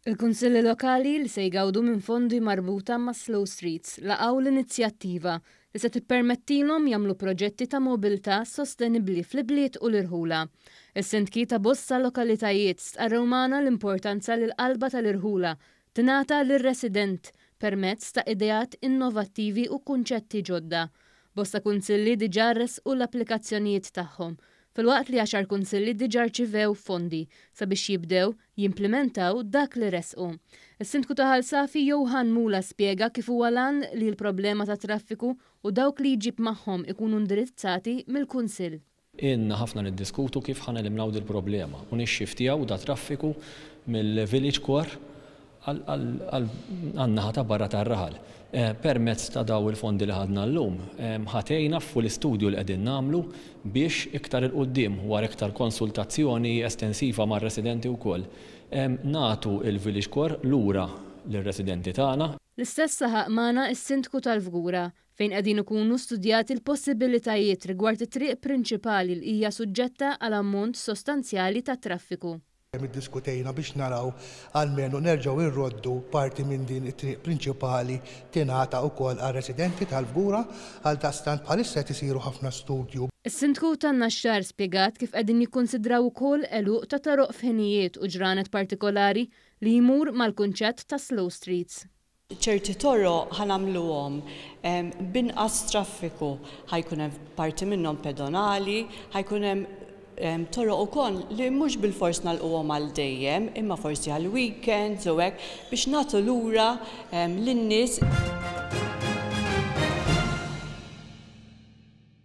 Il-Kunsilli Lokali li se jgawdu minn fondi marbuta ma' Slow Streets laqgħu l-inizjattiva li se tippermettilhom jagħmlu proġetti ta' mobilità sostenibbli fl-ibliet u l-irħula. Is-Sindki ta' bosta lokalitajiet stqarrew magħna l-importanza li l-qalba tal-irħula Tingħata lir-resident, permezz ta' ideat innovattivi u kunċetti ġodda. Bosta kunsilli diġà ressqu l-applikazzjonijiet tagħhom, filwaqt li għaxar kunsilli diġà rċivew fondi sabiex jibdew jimplimentaw dak li ressqu. Is-Sindku ta' Ħal Safi Johann Mula spjega kif huwa l-għan li l-problema tat-traffiku u dawk li jġib magħhom ikunu indirizzati mill-Kunsill. Ilna ħafna niddiskutu kif ħa neliminaw dil-problema u nixxiftjaw dat-traffiku mill-Village Core għan-naħa ta' barra tar-raħal. Permezz ta' dawn il-fondi li ħadna llum, ħa tgħinna fu l-istudju li qegħdin nagħmlu biex iktar 'il quddiem, wara iktar konsultazzjoni estensiva mar-residenti wkoll, nagħtu l-Village Core lura lir-residenti tagħna. L-istess saħaq magħna s-Sindku tal-Fgura, fejn qegħdin ikunu studjati l-possibilitajiet rigward it-triq prinċipali li hija suġġetta għal ammont sostanzjali ta' traffiku. Dejjem iddiskutejna biex naraw almenu nerġgħu irroddu parti minn din it-triq prinċipali tingħata wkoll għar-residenti tal-Fgura, għaldaqstant bħalissa qed isiru ħafna studju. Is-Sindku tan-Naxxar spjegat kif qegħdin jikkunsidraw ukoll għeluq ta' toroq f'ħinijiet u ġranet partikolari li jmur mal-kunċett ta' slow streets. ċerti toroq ħa nagħmluhom b'inqas traffiku, ħa jkun hemm parti minnhom pedonali, ħa jkun hemm toroq ukoll li mhux bilfors nagħlquhom għal dejjem imma forsi għal weekends u hekk biex nagħtu lura lin-nies.